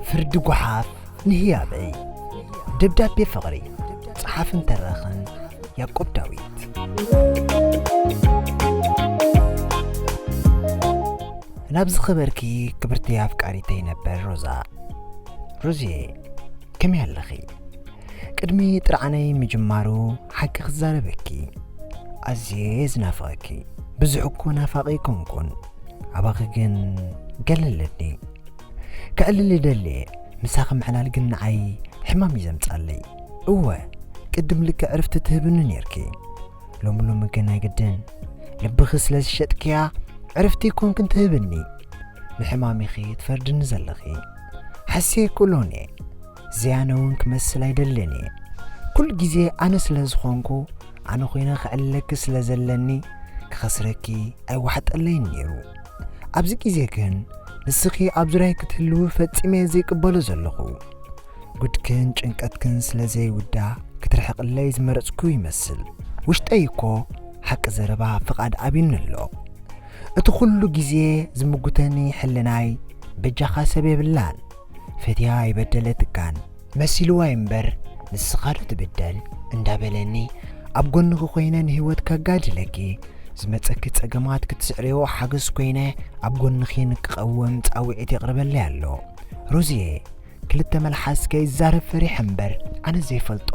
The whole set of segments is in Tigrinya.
ፍርዲ ጓሓፍ ንህያበይ ደብዳቤ ፍቕሪ ጸሓፍን ተራኽን ያዕቆብ ዳዊት ናብ ዝኸበርኪ ክብርቲ ኣፍቃሪተይ ነበር ሮዛ ሮዝየ ከመይ ኣለኺ ቅድሚ ጥርዓነይ ምጅማሩ ሓቂ ክዛረበኪ ኣዝየ እየ ዝናፍቐኪ ብዙሕ እኮ ናፋቒ ኣይኮንኩን ኣባኺ ግን ገለ ኣለኒ ክዕልል ይደሊ እየ ምሳኺ ምዕላል ግን ንዓይ ሕማም እዩ ዘምጻለይ እወ ቅድም ልክዕ ዕርፍቲ ትህብኒ ነርኪ ሎሚ ሎሚ ግን ኣይግድን ልብኺ ስለ ዝሸጥክያ ዕርፍቲ ኮንክን ትህብኒ ንሕማሚኺ ትፈርድኒ ዘለኺ ሓስየ ክእሎን እየ ዝያነ እውን ክመስል ኣይደልን እየ ኩሉ ግዜ ኣነ ስለ ዝኾንኩ ኣነ ኮይነ ክዕለኪ ስለ ዘለኒ ክኸስረኪ ኣይዋሕጠለይን ነይሩ ኣብዚ ግዜ ግን ንስኺ ኣብ ዙርያይ ክትህልዊ ፈጺመ እየ ዘይቅበሎ ዘለኹ ጉድክን ጭንቀትክን ስለ ዘይውዳ ክትርሕቕለይ ዝመረጽኩ ይመስል ውሽጠይ እኮ ሓቂ ዘረባ ፍቓድ ኣብዩኒ ኣሎ እቲ ኩሉ ግዜ ዝምጉተኒ ሕልናይ በጃኻ ሰብ የብላን ፈትያ ኣይበደለትካን። መሲልዋ ዩ እምበር ንስኻ ዶ ትብደል እንዳበለኒ ኣብ ጎንኺ ኮይነ ንህይወት ከጋድለኪ ዝመጸኪ ጸገማት ክትስዕርዮ ሓገዝ ኮይነ ኣብ ጎንኺ ንክቐውም ጻውዒት የቕርበለይ ኣሎ ሮዝየ ክልተ መልሓስ ከይዛረብ ፈሪሐ እምበር ኣነ ዘይፈልጦ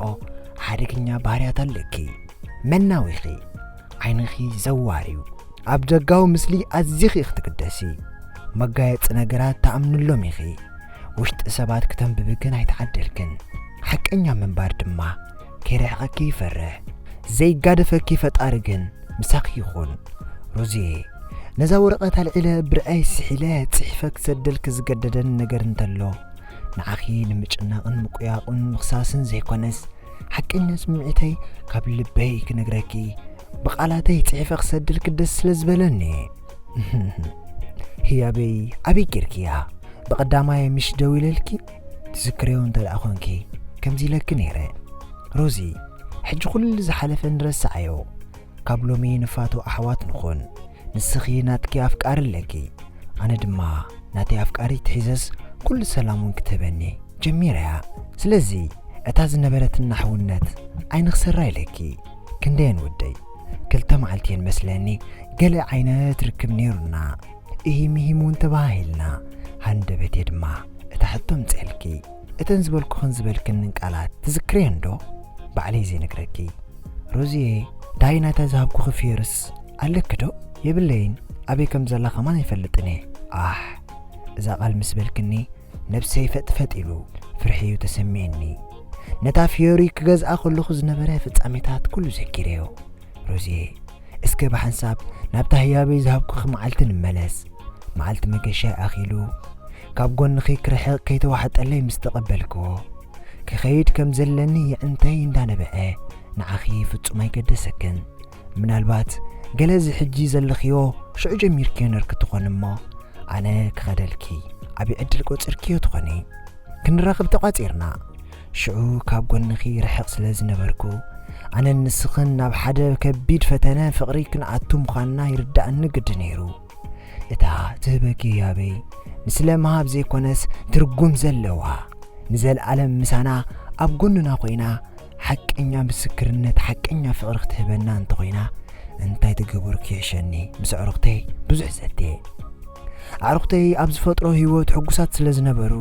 ሓደገኛ ባህርያት ኣለኪ መናዊኺ ዓይንኺ ዘዋር እዩ። ኣብ ደጋዊ ምስሊ ኣዚኺ ኢኺ ትግደሲ። መጋየጺ ነገራት ትኣምንሎም ኢኺ። ውሽጢ ሰባት ክተንብቢ ግን ኣይተዓደልክን። ሓቀኛ ምንባር ድማ ከይርሕቐኪ ይፈርሕ። ዘይጋደፈኪ ፈጣሪ ግን ምሳኺ ይኹን። ሮዝየ፣ ነዛ ወረቐት ኣልዒለ ብርዐይ ስሒለ ጽሒፈ ክሰደልኪ ዝገደደኒ ነገር እንተሎ፣ ንዓኺ ንምጭናቕን ምቁያቑን ምኽሳስን ዘይኮነስ፣ ሓቀኛ ስምዒተይ ካብ ልበይ ክነግረኪ ብቓላተይ ጽሒፈ ክሰድልኪ ደስ ስለ ዝበለኒ ህያበይ ኣበይ ጌርክያ ብቐዳማይ ምሽ ደው ኢለልኪ ትዝክርዮ እንተ ደኣ ኾንኪ ከምዚ ኢለኪ ነይረ ሮዚ ሕጂ ኩሉ ዝሓለፈ ንረስዓዮ ካብ ሎሚ ንፋቶ ኣሕዋት ንኹን። ንስኺ ናትኪ ኣፍቃሪ ኣለኪ ኣነ ድማ ናተይ ኣፍቃሪት ሒዘስ ኩሉ ሰላም ውን ክትህበኒ ጀሚረ እያ ስለዚ እታ ዝነበረትና ሕውነት ኣይንኽሰራ ኢለኪ ክንደየን ወደይ ክልተ መዓልቲ እየን መስለኒ ገለ ዓይነት ርክብ ነይሩና እሂም እሂም ውን ተበሃሂልና ሃንደበቴ ድማ እታ ሕቶ ኣምጺኣልኪ እተን ዝበልኩኽን ዝበልክንን ቃላት ትዝክርየን ዶ? ባዕለይ ዘይነግረኪ። ሮዝየ ዳይ ናይታ ዝሃብኩኺ ፍዮርስ ኣለኪ ዶ? የብለይን ኣበይ ከም ዘላ ከማን ኣይፈልጥን እየ። ኣሕ! እዛ ቃል ምስ በልክኒ ነብሰይ ፈጥፈጥ ኢሉ ፍርሒ'ዩ ተሰሚዕኒ። ነታ ፍዮሪ ክገዝኣ ከለኹ ዝነበረ ፍጻሜታት ኩሉ ዘኪረዮ። ሮዝየ እስከ ብሓንሳብ ናብታ ህያበይ ዝሃብኩኺ መዓልቲ ንመለስ። መዓልቲ መገሻይ ኣኺሉ ካብ ጎንኺ ክርሕቕ ከይተዋሕጠለይ ምስ ተቐበልክዎ፣ ክኸይድ ከም ዘለኒ የዕንተይ እንዳነበዐ ንዓኺ ፍጹም ኣይገደሰክን። ምናልባት ገለ እዚ ሕጂ ዘለኽዮ ሽዑ ጀሚርክዮ ነርኪ ትኾኒ እሞ ኣነ ክኸደልኪ ዓቢ ዕድል ቆጺርክዮ ትኾኒ። ክንራኽብ ተቋጺርና። ሽዑ ካብ ጎንኺ ርሕቕ ስለ ዝነበርኩ፣ ኣነን ንስኽን ናብ ሓደ ከቢድ ፈተነ ፍቕሪ ክንኣቱ ምዃንና ይርድኣኒ ግዲ ነይሩ። እታ ትህበኪ ህያበይ ንስለ ምሃብ ዘይኮነስ ትርጉም ዘለዋ፣ ንዘልኣለም ምሳና ኣብ ጎንና ኮይና ሓቀኛ ምስክርነት ሓቀኛ ፍቕሪ ክትህበና እንተ ኾይና እንታይ ትገብርኪ ይሕሸኒ ምስ ኣዕሩኽተይ ብዙሕ ዘቴ። ኣዕሩኽተይ ኣብ ዝፈጥሮ ህይወት ሕጉሳት ስለ ዝነበሩ፣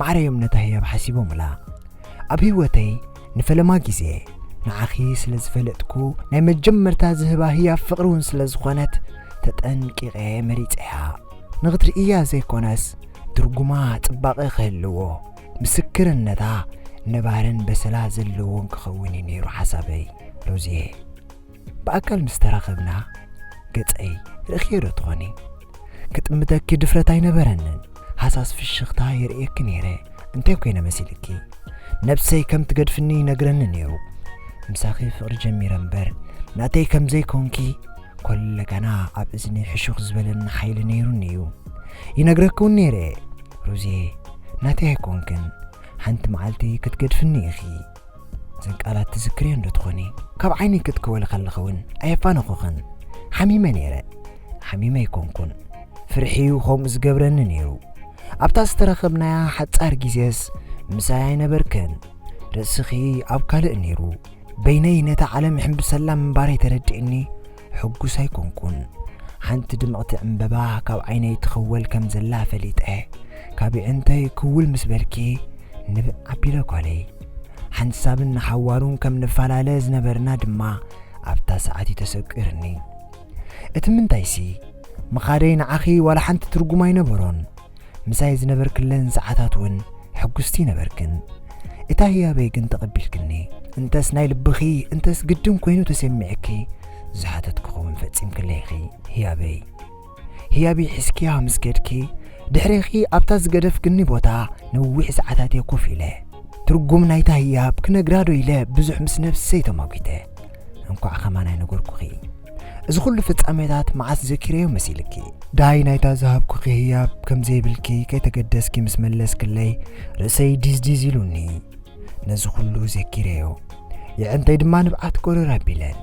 ማዕረዮም ነታ ህያብ ሓሲቦምላ። ኣብ ህይወተይ ንፈለማ ግዜ ንዓኺ ስለ ዝፈለጥኩ ናይ መጀመርታ ዝህባ ህያብ ፍቕሪ እውን ስለ ዝኾነት ተጠንቂቐ መሪጸያ። ንኽትርእያ ዘይኮነስ ትርጉማ ጽባቐ ክህልዎ፣ ምስክርነታ ነባርን በሰላ ዘለዎን ክኸውን እዩ ነይሩ ሓሳበይ። ሮዝየ። ብኣካል ምስ ተራኸብና ገጸይ ርኢኽዮ ዶ ትኾኒ? ክጥምተኪ ድፍረት ኣይነበረንን፣ ሃሳስ ፍሽኽታ የርእየኪ ነይረ፣ እንታይ ኮይነ መሲልኪ? ነብሰይ ከም ትገድፍኒ ይነግረኒ ነይሩ፣ ምሳኺ ፍቕሪ ጀሚረ እምበር ናተይ ከም ዘይኮንኪ ኮለጋና ኣብ እዝኒ ሕሹኽ ዝበለኒ ሓይሊ ነይሩኒ እዩ ይነግረኪ እውን ነይረ ሩዜ ናተይ ኣይኮንክን ሓንቲ መዓልቲ ክትገድፍኒ ኢኺ እዘን ቃላት ትዝክርየን ዶ ትኾኒ? ካብ ዓይነይ ክትክወሊ ከለኺ እውን ኣየፋነኹኽን። ሓሚመ ነይረ። ሓሚመ ኣይኮንኩን። ፍርሒ እዩ ከምኡ ዝገብረኒ ነይሩ። ኣብታ ዝተረኸብናያ ሓጻር ግዜስ ምሳይ ኣይነበርክን። ርእስኺ ኣብ ካልእ ነይሩ። በይነይ ነታ ዓለም እሕምብሰላ ምንባረይ ተረድእኒ። ሕጉስ ኣይኮንኩን። ሓንቲ ድምቕቲ ዕምበባ ካብ ዓይነይ ትኽወል ከም ዘላ ፈሊጠ። ካብ የዕንተይ ክውል ምስ በልኪ ንብዕ ኣቢለ ጓለይ። ሓንሳብን ንሓዋሩን ከም ንፈላለ ዝነበርና ድማ ኣብታ ሰዓት እዩ ተሰቊርኒ። እቲ ምንታይሲ፣ ምኻደይ ንዓኺ ዋላ ሓንቲ ትርጉም ኣይነበሮን። ምሳይ ዝነበርክለን ሰዓታት ውን ሕጉስቲ ነበርክን እታ ህያበይ ግን ተቐቢልክኒ እንተስ ናይ ልብኺ እንተስ ግድን ኮይኑ ተሰሚዕኪ ዝሓተትክኺ ውን ፈጺምክለይ ኢኺ ህያበይ ህያበይ ሒዝክያ ምስ ከድኪ ድሕሬኺ ኣብታ ዝገደፍክኒ ቦታ ነዊሕ ሰዓታት እየ ኮፍ ኢለ ትርጉም ናይታ ህያብ ክነግራዶ ኢለ ብዙሕ ምስ ነብሰይ ተማጒተ እንኳዕ ከማን ኣይነገርኩኺ እዚ ኩሉ ፍጻሜታት መዓስ ዘኪረዮ መሲልኪ? ዳይ ናይታ ዝሃብኩኪ ህያብ ከም ዘይብልኪ ከይተገደስኪ ምስ መለስክለይ ርእሰይ ዲዝዲዝ ኢሉኒ። ነዚ ኩሉ ዘኪረዮ። የዕንተይ ድማ ንብዓት ጎረር ኣቢለን።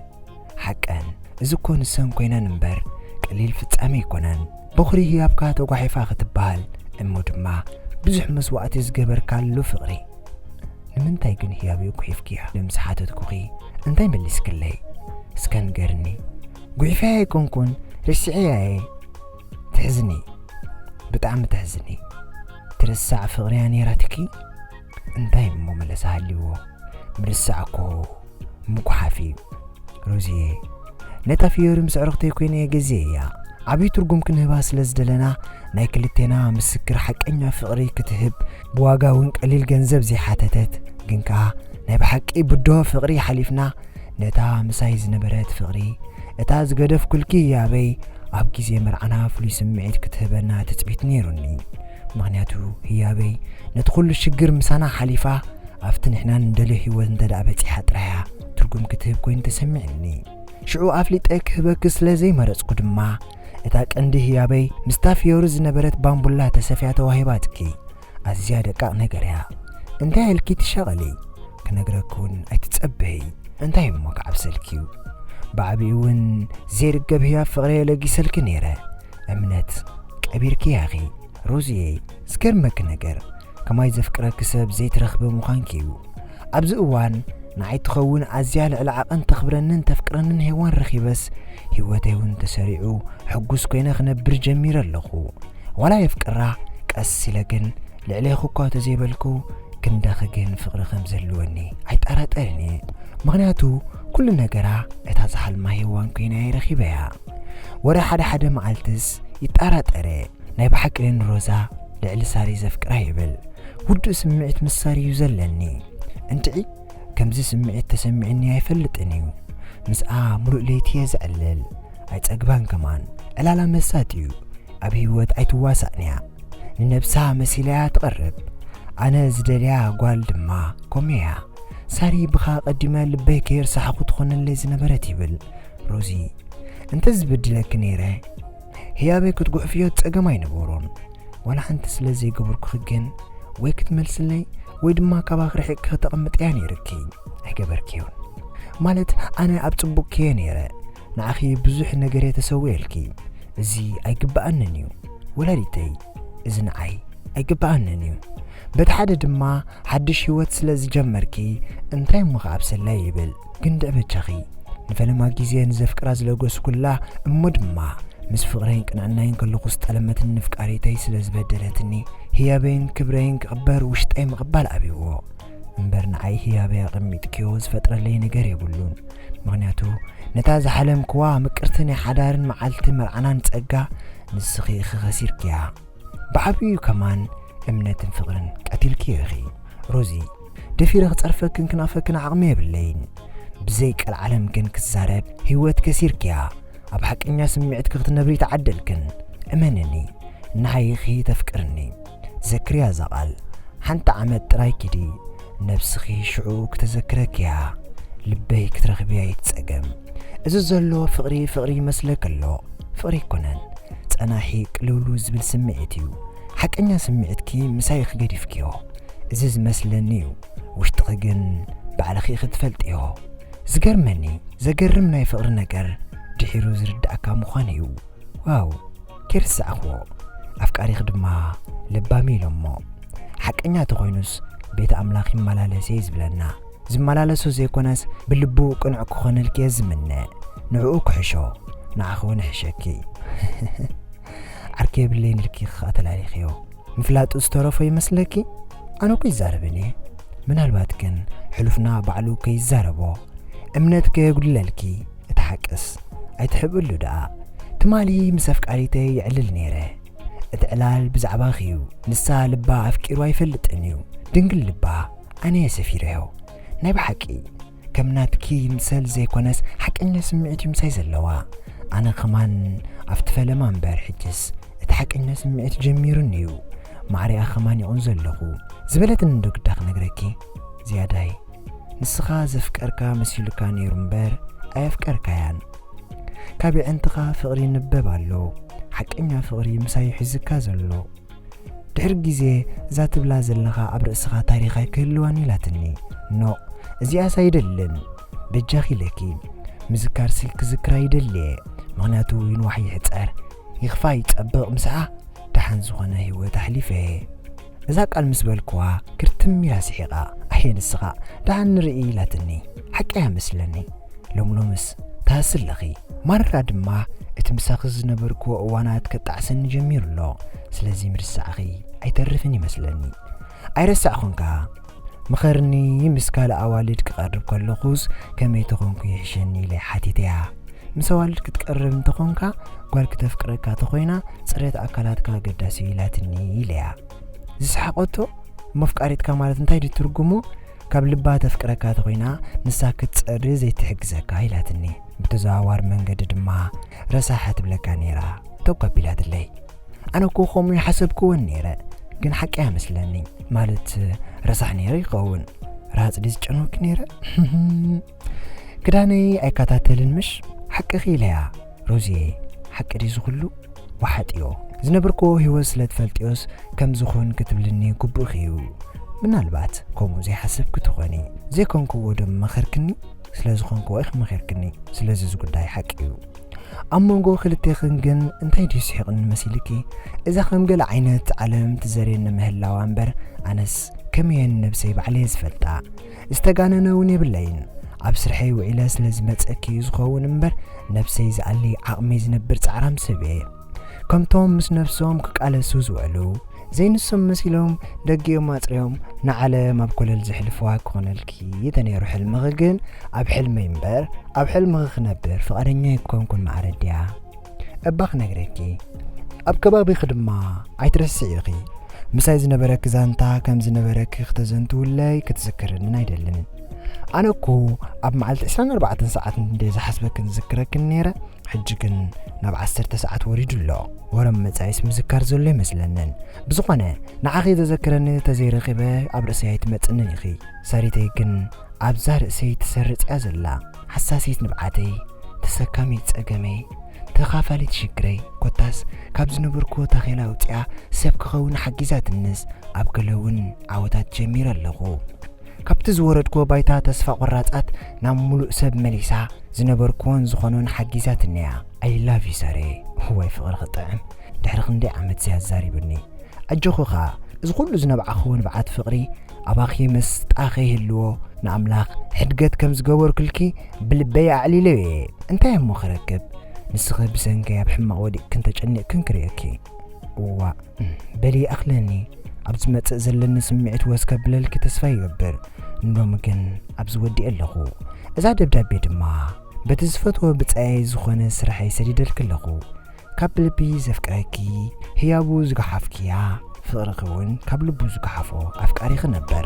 ሓቀን እዚ እኮ ንሰን ኮይነን እምበር ቀሊል ፍጻሜ ኣይኮነን። በኹሪ ህያብካ ተጓሒፋ ክትበሃል እሞ ድማ ብዙሕ መስዋእቲ ዝገበርካሉ ፍቕሪ። ንምንታይ ግን ህያበይ ጉሒፍክያ ኢለ ምስ ሓተትኩኺ እንታይ መሊስክለይ እስከ ንገርኒ ጉሒፈያ ኣይኮንኩን ረሲዐያ እየ ተሕዝኒ ብጣዕሚ ተሕዝኒ ትርሳዕ ፍቅርያ ነይራትኪ እንታይ እሞ መለሳ ሃልይዎ ምርሳዕ እኮ ምጉሓፍ'ዩ ሮዝየ ነታ ፍዮሪ ምስ ዕርኽተይ ኮይነ ገዜየያ ዓብዪ ትርጉም ክንህባ ስለ ዝደለና ናይ ክልቴና ምስክር ሓቀኛ ፍቕሪ ክትህብ ብዋጋ እውን ቀሊል ገንዘብ ዘይሓተተት ግን ከኣ ናይ ብሓቂ ብዶ ፍቕሪ ሓሊፍና ነታ ምሳይ ዝነበረት ፍቕሪ እታ ዝገደፍ ኩልኪ ያበይ ኣብ ግዜ መርዓና ፍሉይ ስምዒት ክትህበና ትጽቢት ነይሩኒ ምክንያቱ ህያበይ ነቲ ኩሉ ሽግር ምሳና ሓሊፋ ኣብቲ ንሕና ንደልዮ ህይወት እንተድኣ በጺሓ ጥራይ'ያ ትርጉም ክትህብ ኮይኑ ተሰሚዑኒ። ሽዑ ኣፍሊጠ ክህበኪ ስለ ዘይመረጽኩ ድማ፣ እታ ቀንዲ ህያበይ ምስታ ፍዮሪ ዝነበረት ባምቡላ ተሰፍያ ተዋሂባትኪ። ኣዝያ ደቃቕ ነገር'ያ። እንታይ ኢልኪ ትሻቐሊ? ክነግረኪ'ውን ኣይትጸበዪ። እንታይ እሞ ክዓብሰልኪ'ዩ? ብዓቢኡ'ውን ዘይርገብ ህያብ ፍቕሪ'የ ለጊሰልኪ ነይረ። እምነት ቀቢርክያ ኢኺ ሮዝየይ ዝገርመኪ ነገር ከማይ ዘፍቅረኪ ሰብ ዘይትረኽቢ ምዃንኪ እዩ ኣብዚ እዋን ንዓይ ትኸውን ኣዝያ ልዕሊ ዓቐን ተኽብረንን ተፍቅረንን ሄዋን ረኺበስ ሂወተይ እውን ተሰሪዑ ሕጉስ ኮይነ ክነብር ጀሚረ ኣለኹ ዋላ የፍቅራ ቀስ ኢለ ግን ልዕሌኹ እኳ ተዘይበልኩ ክንደኺ ግን ፍቕሪ ከም ዘለወኒ ኣይጠራጠርን እየ ምኽንያቱ ኩሉ ነገራ እታ ዝሓልማ ሄዋን ኮይና እየ ረኺበያ ወረ ሓደ ሓደ መዓልትስ ይጣራጠር እየ ናይ ብሓቂ ንሮዛ ልዕሊ ሳሪ ዘፍቅራ ይብል ውዱእ ስምዒት ምስ ሳሪ እዩ ዘለኒ እንትዒ ከምዚ ስምዒት ተሰሚዕኒ ኣይፈልጥን እዩ ምስኣ ሙሉእ ለይቲ እየ ዘዕልል ኣይጸግባን ከማን ዕላላ መሳጥ እዩ ኣብ ህይወት ኣይትዋሳእን እያ ንነብሳ መሲላ እያ ትቐርብ ኣነ ዝደልያ ጓል ድማ ኮሜያ ሳሪ ብኻ ቀዲመ ልበይ ከየርሳሕኹ ትኾነለይ ዝነበረት ይብል ሮዚ እንተ ዝበድለኪ ነይረ ህያበይ ክትጉሕፍዮ ጸገም ኣይነበሮን ዋላ ሓንቲ ስለ ዘይገበርኩኺ ግን ወይ ክትመልስለይ ወይ ድማ ካባኺ ርሒቕኪ ክተቐምጥያ ነይርኪ ኣይገበርክዮን ማለት ኣነ ኣብ ጽቡቕ ክየ ነይረ ንዓኺ ብዙሕ ነገር እየ ተሰውየልኪ እዚ ኣይግብኣንን እዩ ወላዲተይ እዚ ንዓይ ኣይግብኣንን እዩ በቲ ሓደ ድማ ሓድሽ ህይወት ስለ ዝጀመርኪ እንታይ እሞ ከኣብሰላይ ይብል ግንድዕ በጃኺ ንፈለማ ግዜ ንዘፍቅራ ዝለገስኩላ እሞ ድማ ምስ ፍቕረይን ቅንዕናይን ከለኹ ዝጠለመትኒ ንፍቃሪተይ ስለ ዝበደለትኒ ህያበይን ክብረይን ክቕበር ውሽጠይ ምቕባል ኣብይዎ እምበር ንዓይ ህያበይ ኣቐሚጥክዮ ዝፈጥረለይ ነገር የብሉን ምኽንያቱ ነታ ዝሓለምክዋ ምቅርቲ ናይ ሓዳርን መዓልቲ መርዓናን ጸጋ ንስኺ ኢኺ ኸሲርክያ ብዓብዩ ከማን እምነትን ፍቅርን ቀቲልክዮ ኢኺ ሮዚ ደፊረ ክጸርፈክን ክናፈክን ዓቅሚ የብለይን ብዘይ ቀልዓለም ግን ክዛረብ ሂወት ከሲርክያ ኣብ ሓቀኛ ስሚዕትኪ ክትነብሪ ተዓደልክን እመንኒ ንሃይ ኢኺ ተፍቅርኒ ዘክርያ እዛ ቃል ሓንቲ ዓመት ጥራይ ኪዲ ነብስኺ ሽዑ ክተዘክረኪ እያ ልበይ ክትረኽቢ ኣይትጸገም እዚ ዘሎ ፍቕሪ ፍቕሪ ይመስለኪ ኣሎ ፍቕሪ ኣይኮነን ጸናሒ ቅልውሉ ዝብል ስምዒት እዩ ሓቀኛ ስምዒትኪ ምሳይ ክገዲፍክዮ እዚ ዝመስለኒ እዩ ውሽጥኺ ግን ባዕልኺ ክትፈልጥዮ ዝገርመኒ ዘገርም ናይ ፍቕሪ ነገር ድሒሩ ዝርዳእካ ምዃን እዩ ዋው ከይርሳዕክዎ ኣፍቃሪኺ ድማ ለባምዩ ኢሎሞ ሓቀኛ ተኾይኑስ ቤት ኣምላኽ ይመላለስየ ዩ ዝብለና ዝመላለሶ ዘይኮነስ ብልቡ ቅኑዕ ክኾነልኪየ ዝምነ ንዕኡ ክሕሾ ንዓኺ ውን ይሕሸኪ ዓርኪ የብለይን ኢልኪ ክኣ ተላሊኽዮ ምፍላጡ ዝተረፎ ይመስለኪ ኣነኮ ይዛረብንየ ምናልባት ግን ሕሉፍና ባዕሉ ከይዛረቦ እምነት ከየጉድለልኪ እቲ ሓቅስ ኣይትሕብእሉ ደኣ ትማሊ ምስ ኣፍቃሪተይ ይዕልል ነይረ እቲ ዕላል ብዛዕባኺ እዩ ንሳ ልባ ኣፍቂሩ ኣይፈልጥን እዩ ድንግል ልባ ኣነ እየ ሰፊረዮ ናይ ብሓቂ ከም ናትኪ ይምሰል ዘይኮነስ ሓቀኛ ስምዒት እዩ ምሳይ ዘለዋ ኣነ ከማን ኣብቲ ፈለማ እምበር ሕጅስ እቲ ሓቀኛ ስምዒት ጀሚሩኒ እዩ ማዕሪኣ ከማን ይቑን ዘለኹ ዝበለትኒ ዶ ግዳ ክነግረኪ ዝያዳይ ንስኻ ዘፍቀርካ መሲሉካ ኔሩ እምበር ኣየፍቀርካያን ካብ የዕንትኻ ፍቕሪ ይንበብ ኣሎ ሓቀኛ ፍቕሪ ምሳዩ ሒዝካ ዘሎ ድሕሪ ግዜ እዛ ትብላ ዘለኻ ኣብ ርእስኻ ታሪኽ ኣይክህልዋን ኢላትኒ ኖቕ እዚኣስ ኣይደልን በጃኺ ኢለኪ ምዝካር ስልክ ዝክራ ይደልየ ምክንያቱ ይንዋሕ ይሕፀር ይክፋ ይፀብቕ ምስኣ ደሓን ዝኾነ ህይወት ኣሕሊፈ እየ እዛ ቃል ምስ በልክዋ ክርትም ኢላ ስሒቓ ኣየ ንስኻ ደሓን ንርኢ ኢላትኒ ሓቂ እያ መስለኒ ሎሚ ሎምስ ትሃሲ ኣለኺ ማራ ድማ እቲ ምሳኺ ዝነበርክዎ እዋናት ከጣዕሰኒ ጀሚሩ ኣሎ ስለዚ ምርሳዕኺ ኣይተርፍን እዩ መስለኒ ኣይረሳዕኹን ከኣ ምኸርኒ ምስ ካልእ ኣዋልድ ክቐርብ ከለኹስ ከመይ ተኾንኩ ይሕሸኒ ኢለ ሓቲተያ። ምስ ኣዋልድ ክትቀርብ እንተኾንካ ጓል ክተፍቅረካ ተኾይና ጽሬት ኣካላትካ ኣገዳሲ'ዩ ኢላትኒ ኢለያ። ዝሰሓቖቶ መፍቃሪትካ ማለት እንታይ ድዩ ትርጉሙ ካብ ልባ ተፍቅረካ ተኾይና ንሳ ክትጸሪ ዘይትሕግዘካ ኢላትኒ። ብተዘዋዋሪ መንገዲ ድማ ረሳሕ ትብለካ ነይራ ተጓቢላትለይ። ኣነ እኮ ከምኡ ይሓሰብክወን ነይረ ግን ሓቂ ኣይመስለኒ ማለት ረሳሕ ነይረ ይኸውን ራሃፅ ድዩ ዝጨነወኪ ነይረ ክዳነይ ኣይከታተልን ምሽ ሓቅኺ ኢለያ ሮዝየ ሓቂ ድዩ ዝኽሉ ወሓጥዮ ዝነበርኮ ህይወት ስለ ትፈልጥዮስ ከም ዝኾን ክትብልኒ ግቡእኺ እዩ ምናልባት ከምኡ ዘይሓሰብኪ ትኾኒ ዘይኮንክዎ ዶ መኸርክኒ ስለ ዝኾንክዎ ኢኺ መኸርክኒ ስለዚ እዚ ጉዳይ ሓቂ እዩ ኣብ መንጎ ክልቴኽን ግን እንታይ ድዩ ስሒቕኒ መሲልኪ? እዛ ከም ገለ ዓይነት ዓለም ትዘርየኒ ምህላዋ እምበር ኣነስ ከመይ'የ ንነብሰይ ባዕለይ'የ ዝፈልጣ። ዝተጋነነ እውን የብለይን። ኣብ ስርሐይ ውዒለ ስለ ዝመጸኪ'ዩ ዝኸውን እምበር ነብሰይ ዝኣሊ ዓቕመይ ዝነብር ጻዕራም ሰብ'የ። ከምቶም ምስ ነፍሶም ክቃለሱ ዝውዕሉ ዘይንሶም መሲሎም ደጊኦም ኣጽርዮም ንዓለም ኣብ ኮለል ዘሕልፍዋ ክኾነልኪ ተነይሩ ሕልምኺ ግን ኣብ ሕልመይ እምበር ኣብ ሕልምኺ ክነብር ፍቓደኛ ኣይኮንኩን ማዕረድያ እባ ክነግረኪ ኣብ ከባቢኺ ድማ ኣይትረስዕኺ ምሳይ ዝነበረኪ ዛንታ ከም ዝነበረኪ ክተዘንትውለይ ክትዝክርንን ኣይደልን ኣነ እኮ ኣብ መዓልቲ 24 ሰዓት እንደ ዝሓስበክን ዝዝክረክን ነይረ ሕጂ ግን ናብ ዓሰርተ ሰዓት ወሪዱ ኣሎ ወረም መጻኢስ ምዝካር ዘሎ ኣይመስለንን ብዝኾነ ንዓኺ ዘዘክረኒ ተዘይረኺበ ኣብ ርእሰይ ኣይትመጽንን ኢኺ ሰሪተይ ግን ኣብዛ ርእሰይ ትሰርጽ እያ ዘላ ሓሳሲት ንብዓተይ ተሰካሚት ጸገመይ ተኻፋሊት ሽግረይ ኮታስ ካብ ዝነበርኩዎ ታኼላ ኣውጺኣ ሰብ ክኸውን ሓጊዛትንስ ኣብ ገለ እውን ዓወታት ጀሚረ ኣለኹ ካብቲ ዝወረድክዎ ባይታ ተስፋ ቆራጻት ናብ ምሉእ ሰብ መሊሳ ዝነበርክዎን ዝኾኖን ሓጊዛትኒ'ያ። ኣይ ላቭ ዩ ሰሬ እዋይ ፍቅሪ ክጥዕም ድሕሪ ክንደይ ዓመት ሲ ኣዛሪቡኒ ኣጆኺ ከኣ እዚ ኩሉ ዝነብዓኽዎ ንብዓት ፍቅሪ ኣባኺ መስጣ ከይህልዎ ንኣምላኽ ሕድገት ከም ዝገበርኩልኪ ብልበይ ኣዕሊለዮ እየ እንታይ እሞ ክረክብ ንስኺ ብሰንከይ ኣብ ሕማቅ ወዲቅክን ተጨኒቅክን ክርእየኪ እዋእ በሊ ኣኽለኒ ኣብ ዝመጽእ ዘለኒ ስምዒት ወስ ከብለልኪ ተስፋ ይገብር ንሎሚ ግን ኣብዚ ወዲኤ ኣለኹ እዛ ደብዳቤ ድማ በቲ ዝፈትዎ ብጻየይ ዝኾነ ስርሐይ ሰዲደልኪ ኣለኹ ካብ ብልቢ ዘፍቅረኪ ህያቡ ዝገሓፍክያ ፍቕርኺ እውን ካብ ልቡ ዝገሓፎ ኣፍቃሪኺ ነበር።